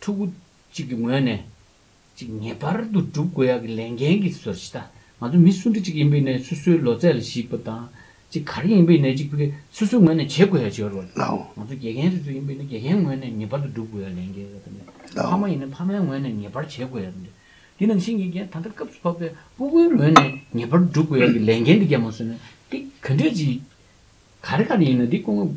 ཕྲུ་གུ་གཅིག་གི་ངོས་ནས་ཅིག་ངེས་པར་དུ་སྒྲུབ་དགོས་ཡག་གི་ལས་འགན་གི་ཟུར་ཞིག་དང་ང་ཚོ་མི་སུ་འདྲ་གཅིག་ཡིན་པའི་ནས་སུ་སུའི་ལོ་ཙས་ལ་གཞིགས་པ་དང་ཅིག་ག་རེ་ཡིན་པའི་ནས་ཅིག་པུ་གེ་སུ་སུའི་ངོས་ནས་བྱེད་དགོས་ཡག་ཅིག་ཡོད་རེད་བ། ང་ཚོ་དགེ་རྒན་རེ་ཟུ་ཡིན་པའི་ནས་དགེ་རྒན་ངོས་ནས་ངེས་པར་དུ་སྒྲུབ་དགོས་ཡག་ལས་འགན་ཡོད་རེད་བ། ཕ་མ་ཡིན་ནས་ཕ་མའི་ངོས་ནས་ངེས་པར་བྱེད་དགོས་ཡག་རེད་བ། དེ་ནང་བཞིན་དགེ་རྒན་ད་ལྟ་སྐབས་སུ་བབས་པའི་པུ་གུའི་ངོས་ནས་ངེས་པར་དུ་སྒྲུབ་དགོས་ཡག་གི་ལས་འགན་འདི་རྒྱབ་མ་སོན་ན་འདི་ག་འདྲས་ཅིག་ག་རེ་ག་རེ་ཡིན་ན་འདི་ཀུན།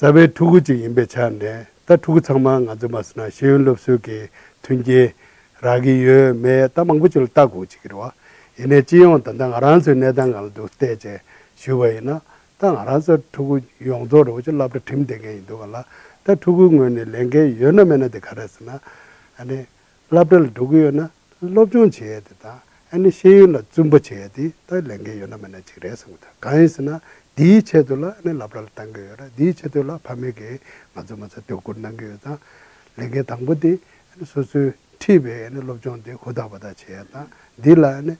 རྩ་བའི་ཕྲུ་གུ་གཅིག་ཡིན་པའི་ཆ་ནས་ད་ཕྲུ་གུ་ཚང་མ་ང་ཚོས་མ་ཟེར་ན་ཤེས་ཡོན་སློབ་གསོའི་གི་མཐུན་རྐྱེན་རག་གི་ཡོད་མེད་ད་མང་པོ་ཅིག་ལ་བལྟ་དགོས་ཅིག་གི་རེད། ཡིན་ནའི་སྤྱི་ཡོངས་ད་ལྟ་ང་རང་ཚོའི་གནས་སྟངས་གང་ལ་འདུག་བལྟས་ཅན་ཞུས་པ་ཡིན་ན་ད་ང་རང་ཚོ་ཕྲུ་གུ་ཡོངས་རྫོགས་རེ་བ་ཅིག་བསླབ་གྲ་ཁྲིམས་བསྟེན་མཁན་ཡིན་འདུག་ག་ལ་ད་ཕྲུ་གུའི་ངོས་ནས་ལས་འགན་ཡོད་ན་མེད་ན་དེ་ག་རེ་ཟེར་ན་ཨ་ནི་བསླབ་གྲྭ་ལ་འགྲོ་གི་ཡོད་ན་སློབ་སྦྱོང་བྱེད་ཡས་དེ་དང་ཨ་ནི་ཤེས་ཡོན་ལ་བཙུན་པ་བྱེད་ཡས་དེ་ལྟར་ལས་འགན་ཡོད་ན་མེད་ན་གཅིག་རེད་བསམ་གི་འདུག་གང་ཡིན་ཟེར་ན་དེའི་ཆེད་དུ་ལ་ཨ་ནི་བསླབ་གྲྭ་ལ་བཏང་གི་ཡོད་ར་དེའི་ཆེད་དུ་ལ་ཕ་མེས་ཀྱིས་ང་ཚོ་མ་ཚོ་དོ་ཁུར་གནང་གི་ཡོད་དང། ལས་འགན་དང་པོ་དེ་ཨ་ནི་སོ་སོའི་འཁྲིས་པའི་ཨ་ནི་སློབ་སྦྱོང་དེ་ཧུར་ཐག་པ་ཐག་བྱེད་ཡས་དང་དེ་ལ་ཨ་ནི་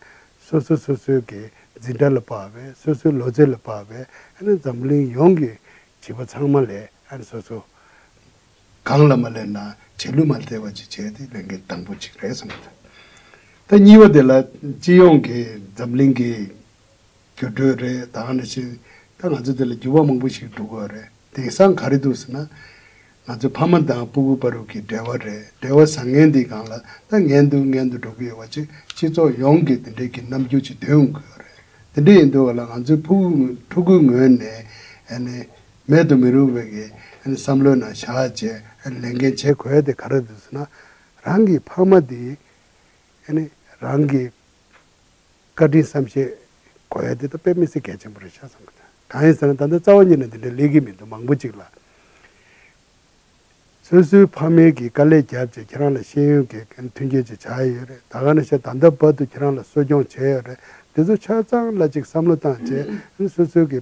སོ་སོ་སོ་སོའི་གི་འཛིན་གྲྭ་ལ་དཔའ་བའི་སོ་སོའི་ལོ་ཙེ་ལ་དཔའ་བའི་ཨ་ནི་འཛམ་གླིང་ཡོངས་ཀྱི་བྱིས་པ་ཚང་མ་ལས་ཨ་ནི་སོ་སོ། གང་ལ་མ་ལས་ན་བྱེད་ལུས་མ་བརྟས་པ་ཅིག་བྱས་ཏེ་ལས་འགན་དང་པོ་གཅིག་རེད་བསམ་གྱི་འདུག་ད་གཉིས་པ་དེ་ལ་སྤྱི་ཡོངས་ཀྱི་འཛམ་གླིང་གི་འགྱུར་འགྲོས་རེད་ད་ནང་བཞིན་ད་ང་ཚོ་དེ་ལ་འགྱུར་བ་མང་པོ་ཞིག་འགྲོ་དགོས་རེད་དེང་སང་ག་རེ་འདུག་ཟེར་ན། ང་ཚོ་ཕ་མ་དང་སྤུ་གུ་དཔའ་རུབ་ཀྱི་འབྲེལ་བ་རེད་འབྲེལ་བ་བཟང་ངན་འདི་གང་ལ་ད་ངན་འདུག་ངན་དུ་འགྲོ་གི་ཡོད་པ་ཅིག་སྤྱི་ཚོགས་ཡོངས་ཀྱི་དེ་འདྲའི་གི་རྣམ་འགྱུར་ཅིག་འདོན་དགོས་རེད་དེ་འདྲ་ཡིན་དུས་བ་ལ་ང་ཚོའི་ཕུ་གུ་ཕྲུ་གུའི་ངོས་ནས་ནི། མེད་དུ་མི་རུང་བའི་བསམ་བློའི་ནང་བཞག་ཅེས་ལས་འགན་ཆེ་གོ་ཡ་དེ་ག་རེ་རེད་ཟེར་ན། རང་གི་ཕ་མ་དེ་རང་གི་བཀའ་དྲིན་བསམ་ཤེས་གོ་ཡ་དེ་ད་དཔེ་མི་སྲིད་གལ་ཆེན་པོ་རེད་ཤག་བསམ་གྱི་འདུག་གང་ཡིན་ཟེར་ན་ད་ལྟ་རྩ་བ་ཉིད་ནས་འདི་འདྲའི་ལས་ཀྱི་མི་འདུག་མང་པོ་ཅིག་ལ། སོ་སོའི་ཕ་མེས་ཀྱི་དཀའ་ལས་བརྒྱབ་ཅེས་ཁྱེད་རང་ལ་ཤེས་ཡོན་གྱི་མཐུན་རྐྱེན་ཅིག་ཆགས་ཡས་ཡོད་རེད་ད་ག་ནས་ཤེས་ད་ལྟ་བར་དུ་ཁྱེད་རང་ལ་གསོ་སྐྱོང་བྱས་ཡོད་རེད་དེ་ཚོ་ཆ་ཚང་སླ་ཅིག་བསམ་བློ་བཏང་བྱས་ཨ་ནི་སོ་སོའི་གི་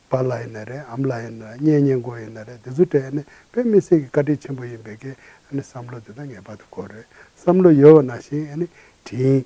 ཕ་ལ་ཡིན་ན་རེད་ཨམ་ལ་ཡིན་ན་རེད་གཉེན་ཉེ་འགོ་ཡིན་ན་རེད་དེ་ཚོ་དྲན་ཨ་ནི་དཔེ་མི་སྲིད་གི་བཀའ་དྲིན་ཆེན་པོ་ཡིན་པས་ཀྱི་ཨ་ནི་བསམ་བློ་དེ་དག་ངེས་པར་དུ་དགོས་རེད་བསམ་བློ་ཡོད་བ་ན་ཞིང་ཨ་ནི་དྲིན་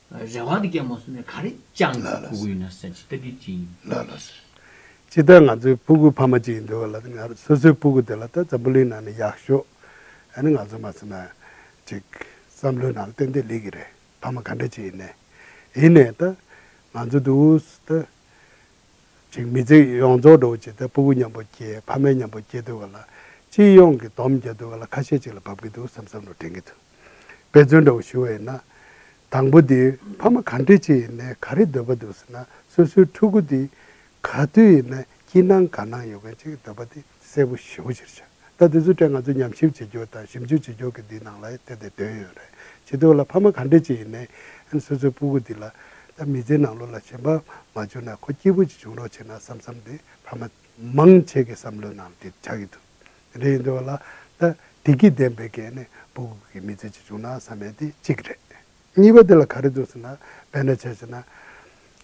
རེ་བ་དེ་ཀྱང་མ་བཟོད་ནས་ག་རེ་བཅངས་ལ་ལ་ཟེར། ལ་ལ་ཟེར། ཅི་ལྟར་ང་ཚོའི་སྤུ་གུ་ཕ་མ་གཅིག་ཡིན་འདོད་པ་ལ་ང་རང་སོ་སོའི་སྤུ་གུ་དེ་ལ་ལྟ་འཛམ་བུ་གླིང་ནང་ནས་ཡག་ཤོས་ཨ་ནི་ང་ཚོ་མ་ཟེར་ན་ཅིག་བསམ་བློའི་ནང་ལ་ཏན་ཏན་ལེགས་ཀྱི་རེད་ཕ་མ་ག་འདྲ་ཅིག་ཡིན་ནས་ཡིན་ནས་ལྟ་ང་ཚོ་དུ་བོ་ལྟ་ཅིག་མི་ཚེ་ཡོངས་རྫོགས་འགྲོ་བ་ཇི་ལྟར་སྤུ་གུ་མཉམ་པོ་སྐྱེས་ཕ་མའི་མཉམ་པོ་སྐྱེས་འདོད་པ་ལ་སྤྱི་ཡོངས་ཀྱི་དོམ་བརྒྱ་འདོད་པ་ལ་ཁ་ཤས་ཅིག་ལ་འབབ་ཀྱི་འདུག་བསམ་བསམ་བློ་དྲན་གྱི་འདུག། དཔེ་མཚོན་འདྲ་བོ་ཞུ་བ་ཡིན་ན། དང་པོ་དེ་ཕ་མ་ག་འདྲི་ཅི་ཡིན་ནས་ག་རེ་འདོད་པ་འདུག་ཟེར་ན་སོ་སོའི་ཕྲུ་གུ་དེ་ག་དུས་ཡིན་ན་སྐྱིད་སྣང་དགའ་སྣང་ཡོད་མཁན་ཅིག་འདོད་པ་དེ་གསལ་པོ་ཞུ་གཞིར་བྱ། ད་དེ་ཚོའི་གྲས་ང་ཚོས་ཉམས་ཞིབ་བྱེད་རྒྱུ་དང་ཞིབ་འཇུག་བྱེད་རྒྱུ་གི་འདིའི་ནང་ལ་དེ་དེ་དོན་ཡོད་རེད་བྱེད་འདུག་ལ་ཕ་མ་ག་འདྲི་ཅི་ཡིན་ནས་སོ་སོའི་སྤུ་གུ་དེ་ལ་ད་མི་ཚེའི་ནང་ལོ་ལ་ཞེན་པ་མ་བྱུང་ན་ཁོ་སྐྱིད་པོ་ཅིག་བྱུང་རོགས་བྱས་ན་བསམ་བསམ་དེ་ཕ་མ་མང་ཆེ་གི་བསམ་བློའི་ནང་དེ་ཆགས་ཀྱི་འདུག། རེད་འདོད་ལ། ད་དེ་སྐྱིད་ལྡན་པའི་སྐད་ནི་པུ་གུ་གུ་གི་མི་ཚེ་ཇི་བྱུང་ན་བསམ་མེད་དེ་གཅིག་རེད། གཉིས་པ་དེ་ལ་ག་རེ་འདུག་ཟེར་ན། བེད་ན་བྱས་ཟེར་ན།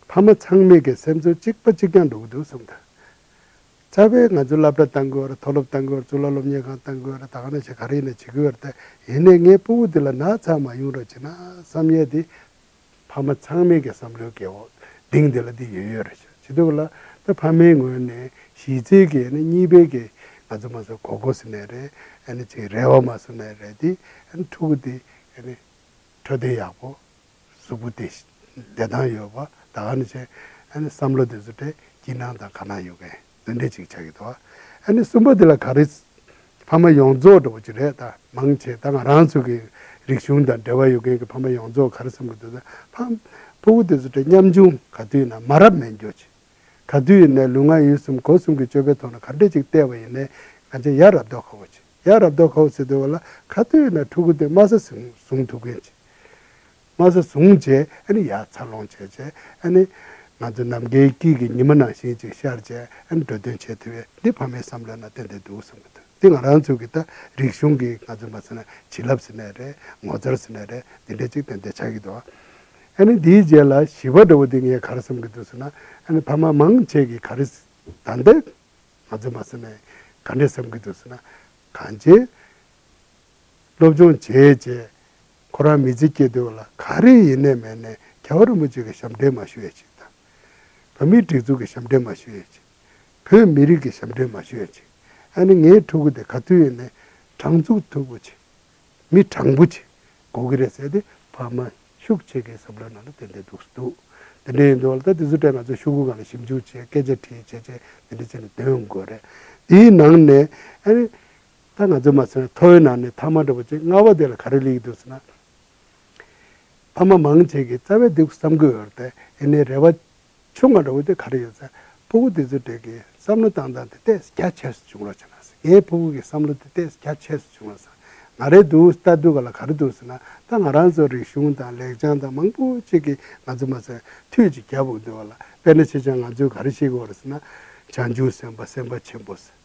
ཕ་མ་ཚང་མེད་ཀྱི་སེམས་ཚོར་གཅིག་པ་གཅིག་ཀྱང་འགྲོ་གི་འདུག་གསུམ་དང། རྩ་བའི་ང་ཚོས་བསླབ་གྲྭ་བཏང་དགོས་ར་མཐོ་སློབ་བཏང་དགོས་ར་གཙུག་ལག་སློབ་གཉེར་ཁང་བཏང་དགོས་ར་ད་ག་ནས་བྱེད་ག་རེ་ཡིན་ན་བྱེད་དགོས་ར་ད་ཡིན་ནས་ངའི་པུ་གུ་དེ་ལ་ན་ཚ་མ་ཡོང་ར་བྱས་ན་བསམ་ཡས་དེ་ཕ་མ་ཚང་མས་ཀྱང་བསམ་བློའི་བཀས་འོག་གདེང་འདི་ལ་དེ་ཡོད་ཡོད་རེད་ཤག་བྱེད་དགོས་ལ། ད་ཕ་མའི་ངོས་ནས་གཞིས་རྩེ་གི་ནི་གཉིས་པའི་གི་ང་ཚོ་མ་ཟོ་གོ་གོ་སི་ནས་རེད་ཨ་ཅིག་རེ་བ་མ་ཟོ་ནས་རེད་དེ་ཕྲུ་གུ་དེ་འཕྲོད་བསྟེན་ཡག་པོ་གཟུགས་པོ་དེ་བདེ་ཐང་ཡོད་པ་ད་ག་ནས་བྱས་བསམ་བློ་དེ་ཚོ་དེ་སྐྱིད་སྣང་དང་ག་ནང་ཡོད་མཁན། འདི་འདྲས་ཅིག་བྱ་ཡི་ཏོ། ཨ་ནི་གསུམ་པོ་འདི་ལ་ག་རེ། ཕ་མ་ཡོངས་རྫོགས་འགྲོ་བ་ཅི་རེད་ད་མང་ཆེ་ད་ང་རང་ཚོ་གི་རིག་གཞུང་དང་འབྲེལ་བ་ཡོད་མཁན་གི་ཕ་མ་ཡོངས་རྫོགས་ག་རེ་བསམ་གི་འདུག་ད་ཕ། ཕུ་བོ་དེ་ཚོ་དྲན་སྙམ་བྱུང་ག་དུས་ན་མ་རབས་མེད་འགྱོ་ཅིག། ག་དུས་ཡིན་ནའི་ལུས་ངག་ཡིད་གསུམ་གོ་གསུམ་གི་སྤྱོད་པའི་ཐོག་ན་ག་འདྲས་ཅིག་བལྟས་བ་ཡིན་ནའི་ང་ཅག་ཡར་རབ་རྡོ་ཁ་བོ་ཅིག་ཡར་རབ་རྡོ་ཁ་བོ་ཟེར་འདོད་བ་ལ་ག་དུས་ཡིན་ན་ཕྲུ་གུ་དེ་དམའ་ས་ཟུང་ཐུབ་མཁན་ཅིག། དམར་ཟས་བཟུང་རྗེས་ཨ་ནི་ཡར་འཚར་ལོངས་བྱས་རྗེས་ཨ་ནི། ང་ཚོས་ནམ་མཁའི་དཀྱིལ་གྱི་ཉི་མ་ནང་བཞིན་ཅིག་ཤར་རྗེས་ཨ་ནི་འགྲོ་དོན་ཆེ་དེ་བས་འདི་ཕ་མའི་བསམ་བློའི་ནང་ཏན་ཏན་འདུག་བསམ་གྱི་འདུག་འདི་ང་རང་ཚོའི་གི་ད་རིག་གཞུང་གི་ང་ཚོས་མ་ཟེར་ན་བྱིན་རླབས་ཟེར་ནས་རེད་ངོ་མཚར་ཟེར་ནས་རེད་འདི་འདྲས་ཅིག་ཏན་ཏན་ཆགས་ཀྱི་འདུག་ཨ་ནི་འདིའི་རྗེས་ལ་བྱིས་པ་འདྲ་བོ་འདི་ངས་ག་རེ་བསམ་གྱི་འདུག་ཟེར་ན་ཨ་ནི་ཕ་མ་མང་ཆེ་གི་ག་རེ་ད་ལྟའི་ང་ཚོས་མ་ཟེར་ནས་ག་འདྲས་བསམ་གྱི་འདུག་ཟེར་ན་གངས་ཅན་སློབ་སྦྱོང་བྱས་རྗེས་ཁོ་རང་མི་ཚེ་སྐྱེལ་དུས་ལ་ག་རེ་ཡིན་ནས་མེད་ནས་ག་བ་རིན་པོ་ཆེ་གི་ཞབས་འདྲེན་མ་ཞུ་ཡས་ཆིག་དང། བོད་མིའི་སྒྲིག་འཛུགས་ཀྱི་ཞབས་འདྲེན་མ་ཞུ་ཡས་ཆིག། བོད་མི་རིགས་ཀྱི་ཞབས་འདྲེན་མ་ཞུ་ཡས་ཆིག་ཨ་ནི་ངའི་ཕྲུ་གུ་དེ་ག་དུས་ཡིན་ནས་དྲང་ཚུགས་ཐུགས་པོ་ཆེ། མི་དྲང་པོ་ཆེ་གོ་གི་རེད་ཟེར་ཏེ་ཕ་མ་ཤུགས་ཆེ་གི་བསམ་བློའི་ནང་ལ་དེ་འདྲས་འདུག་སུ་འདུག་དེ་འདྲས་ཡིན་དུས་ལ་ད་དེ་ཚོ་ཀྲེ་ང་ཚོ་ཤུགས་གུ་གང་ལ་ཞིབ་འཇུག་བྱེད་སྐད་ཆ་དྲིས་བྱས་བྱས་དེ་འདྲས་བྱས་ནས་དོན་དགོས་རེད་དེའི་ནང་ནས་ཨ་ནི། ད་ང་ཚོས་མ་ཚོས་ཐོ་བོའི་ནང་ནས་ཐ་མ་འདྲ་པོ་ཅིག་མངའ་བ་དེ་ལ་ག་རེ་ལུས་ཀྱི་འདུག་ཟེར་ན། ཕ་མ་མང་བྱེད་ཀྱི་རྩ་བའི་དུག་བསམ་དགོས་ཡོད་རེད་དེ་ཡིན་ནའི་རེ་བ། ཆུང་མ་འདྲ་བོ་དེ་ག་རེ་ཡོད་ཟེར་ཕུ་བོ་དེ་ཚོའི་གྲས་ཀྱི་བསམ་བློ་བཏང་སྟངས་དེ་ལྟས་ས་རྒྱ་ཆེ་སོ་བྱུང་རོགས་བྱས་ན་ཟེར་ངའི་ཕུ་བོ་གི་བསམ་བློ་དེ་ལྟས་ས་རྒྱ་ཆེ་སོ་བྱུང་རོགས་ཟེར་ང་རེ་འདུག་ལྟ་འདུག་ག་ལ་ག་རེ་འདུག་ཟེར་ན་ད་ང་རང་ཚོ་རིག་གཞུང་དང་ལེགས་བྱང་དང་མང་པོ་ཅིག་གི་ང་ཚོས་མ་ཚོས་ཐུགས་ཀྱི་རྒྱ་བོད་འདོད་བ་ལ་དཔེ་ན་ཆེ་ཆང་ང་ཚོས་ག་རེ་བྱེད་དགོས་རེད་ཟེར་ན། བྱང་ཆུང་སེམས་དཔའ་སེམས་དཔའ་ཆེན་པོ་ཟེར།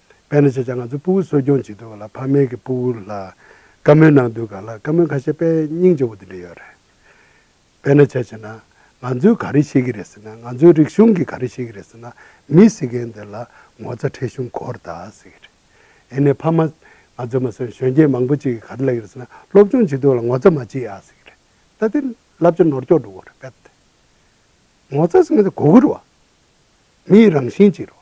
བས་ན་ཁྱེད་ཅག་ང་ཚོའི་སྤུ་བོ་གསོ་སྐྱོང་བྱེད་འདོད་པ་ལ་ཕ་མེས་ཀྱི་སྤུ་བོ་ལ་བཀའ་མོལ་གནང་འདོད་ག་ལ་བཀའ་མོལ་ཁ་ཤས་པས་སྙིང་རྗེ་བོ་དེ་འདྲ་ཡོད་རེད། བས་ན་ཁྱེད་ཀྱིས་ན་ང་ཚོས་ག་རེ་ཤེས་ཀྱི་རེད་ཟེར་ན་ང་ཚོའི་རིག་གཞུང་གིས་ག་རེ་ཤེས་ཀྱི་རེད་ཟེར་ན་མི་སྲིད་མཁན་དེ་ལ་ངོ་ཚ་ཁྲེལ་གཞུང་གོ་ར་དག་ཟེར་གྱི་རེད། ཨེ་ནས་ཕ་མ་ང་ཚོས་མ་ཟོས་ན་གཞོན་སྐྱེས་མང་པོ་ཅིག་གིས་ག་རེ་ལབ་ཀྱི་རེད་ཟེར་ན་སློབ་སྦྱོང་བྱེད་འདོད་པ་ལ་ངོ་ཚ་མ་བྱེད་ཡ་ཟེར་གྱི་རེད། ད་དེ་ལབ་ཀྱི་ནོར་འཁྱོག་འགྲོ་གི་རེད་བས། ངོ་ཚ་ཟེར་མཁན་དེ་གོ་གི་རེད་བ། མིའི་རང་བཞིན་ཅིག་རེད་བ།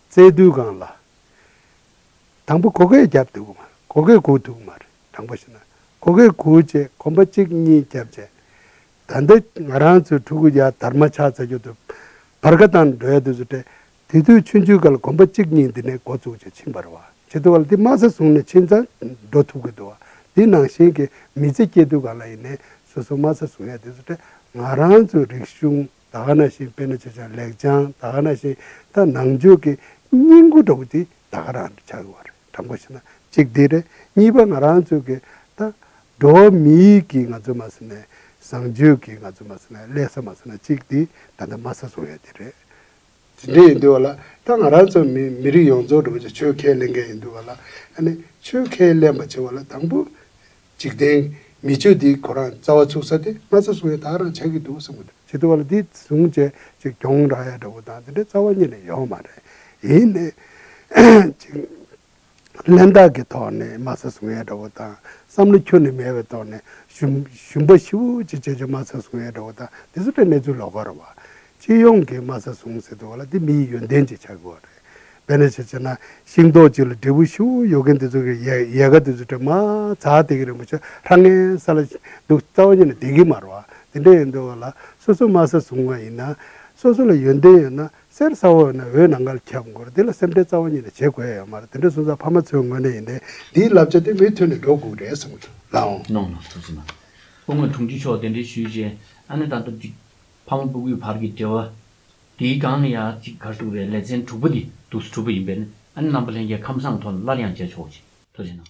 བཙལ་བསྡུའི་སྒང་ལ། དང་པོ་གོ་སྐལ་རྒྱབ་འདུག་མ་གོ་སྐལ་གོ་འདུག་མ་རེད་དང་པོ་བྱས་ན་གོ་སྐལ་གོ་བཅས་གོམ་པ་གཅིག་གཉིས་རྒྱབ་བཅས་ད་འདི་ང་རང་ཚོའི་ཕྲུ་གུ་ཡ་དར་མ་ཆགས་ཚར་རྒྱུ་འདུག་བར་ཁ་དང་འགྲོ་ཡ་དུས་སུ་སྤྲད་དེ་དུས་ཆུང་ཆུང་ག་ལ་གོམ་པ་གཅིག་གཉིས་འདི་ནས་འགོ་བཙུགས་ཅིག་ཕྱིན་པར་བ་བྱེད་དུ་བ་ལ་འདི་དམའ་ས་བཟུང་ནས་ཕྱིན་ཚར་འགྲོ་ཐུབ་གི་འདུག་བ་འདི་ནང་བཞིན་གྱི་མི་ཚེ་སྐྱེལ་དུས་གང་ལ་ཡིན་ནས་སོ་སོ་དམའ་ས་བཟུང་ཡ་དུས་སུ་སྤྲད་ང་རང་ཚོའི་རིག་གཞུང། ད་ག་ན་བཞིན་དཔེ་ན་ཆ་ཆང་ལེགས་སྦྱངས་ད་ག་ན་བཞིན་ད་ནང་ཆོས་ཀྱི་སྙིང་པོ་འདྲ་བོ་དེ་ད་ག་རང་གི་ཆགས་ཡོང་བ་རེད་དྲང་པོ་བཤད་ན་གཅིག་དེ་རེད་གཉིས་པ་ང་རང་ཚོས་ཀྱི་ད་འགྲོ་བ་མི་ཡིག་གི་ང་ཚོས་མ་ཟེར་ནས་བཟང་སྤྱོད་ཀྱི་ང་ཚོས་མ་ཟེར་ན་ལེགས་ས་མ་ཟེར་ན་གཅིག་དེ་ད་ལྟ་དམའ་ས་སོང་ཡོད་དེ་རེད་འདི་འདྲས་ཡིན་འདུག་བ་ལ་ད་ང་རང་ཚོ་མི་མི་རིགས་ཡོངས་རྫོགས་འགྲོ་བ་ཆ་ཆོས་ཁས་ལེན་མཁན་ཡིན་འདུག་བ་ལ་ཨ་ནི་ཆོས་ཁས་ལེན་པ་བྱེད་བ་ལ་དང་པོ་འཇིག་རྟེན་མི་ཆོས་འདིའི་གོ་རང་རྩ་བ་ཚུགས་ས་དེ་ང་ཚོ་སུ་ཡིན་དག་རང་བྱེད་ཀྱི་འདུག་བསམ་གི་འདུག། བྱེད་འདུག་བ་ལ་འདིས་ཟུང་བྱས་ཅིག་གྱོང་རག་ཡ་འདྲ་བོ་དང་འདི་འདྲའི་རྩ་བ་གཉིས་ལས་ཡོག་མ་རེད་ཡིན། ཅིག། གླེན་རྟགས་ཀྱི་ཐོག་ནས་དམའ་ས་བཟུང་ཡས་འདྲ་བོ་དང་བསམ་བློ་ཁྱོན་ནས་མེད་པའི་ཐོག་ནས་ཞུམ་པ་ཤི་བོ་ཅིག་བྱེད་ཆོག་དམའ་ས་བཟུང་ཡས་འདྲ་བོ་དང་དེ་ཚོ་ལྟ་གནས་ཚུལ་ལོག་པ་རེད་བ། སྤྱི་ཡོངས་ཀྱི་དམའ་ས་བཟུང་ཟེར་དུ་བ་ལ་དེ་མིའི་ཡོན་ཏན་གྱི་ཆ་གི་བ་རེད། བས་ན་ཅིག་བྱས་ན་ཤིང་ཏོག་ཅིག་ལ་འབྲས་བུ་ཤི་བོ་ཡོད་མཁན་དེ་ཚོ་གི་ཡས་ག་དེ་ཚོ་དྲི་མ་ཛག་དེ་གི་རིན་པོ་ཆེ་ཧྲ་ངའི་ས་ལ་འདུག་རྩ་བ་ཉིད་ནས་དེ་གི་མ་རེད་བ། དེ་འདྲ་ཡོད་འདུག་བ་ལ་སོ་སོ་དམའ་ས་བཟུང་བ་ཡིན་ན་སོ་སོ་ལ་ཡོན་ཏན་ཡོད་ན་གསེར་ས་འོག་ནས་འོད་ནང་ཁར་ཁྱབ་འགོར་འདི་ལ་སེམས་ཁྲལ་རྩ་བ་ཉིད་ནས་བྱེད་དགོས་ཡོད་མ་རེད་དེ་འདྲ་གསུངས་ས་ཕ་མ་ཚོའི་ངོས་ནས་ཡིན་ཏེ། འདིའི་བསླབ་བྱ་དེ་མི་མཐུན་ནས་འགྲོ་དགོས་རེད་གསུངས་ཚུལ་ལའང། གནང་ནང་ཐུགས་རྗེ་གནང། སྐུ་ངོས་དྲུང་ཆེ་མཆོག་གདན་འདྲེན་ཞུས་རྗེས་ཨ་ནེ་དང་སྟོབས་ཀྱི། ཕ་མ་སྤུ་གུའི་བར་གྱི་འབྲེལ་བ། དེའི་སྒང་ནས་ཡང་གཅིག་གར་ཐུག་རེད་ལེ་ཚན་དྲུག་པ་འདི་འདུག་ས་དྲུག་པ་ཡིན་པས་ཨ་ནེ་རྣམ་པ་ལྷན་རྒྱས་ཁམས་བཟང་དོན་སླར་ཡང་མཇལ་ཆོག་ཅིག་ཐུགས་རྗེ་གནང།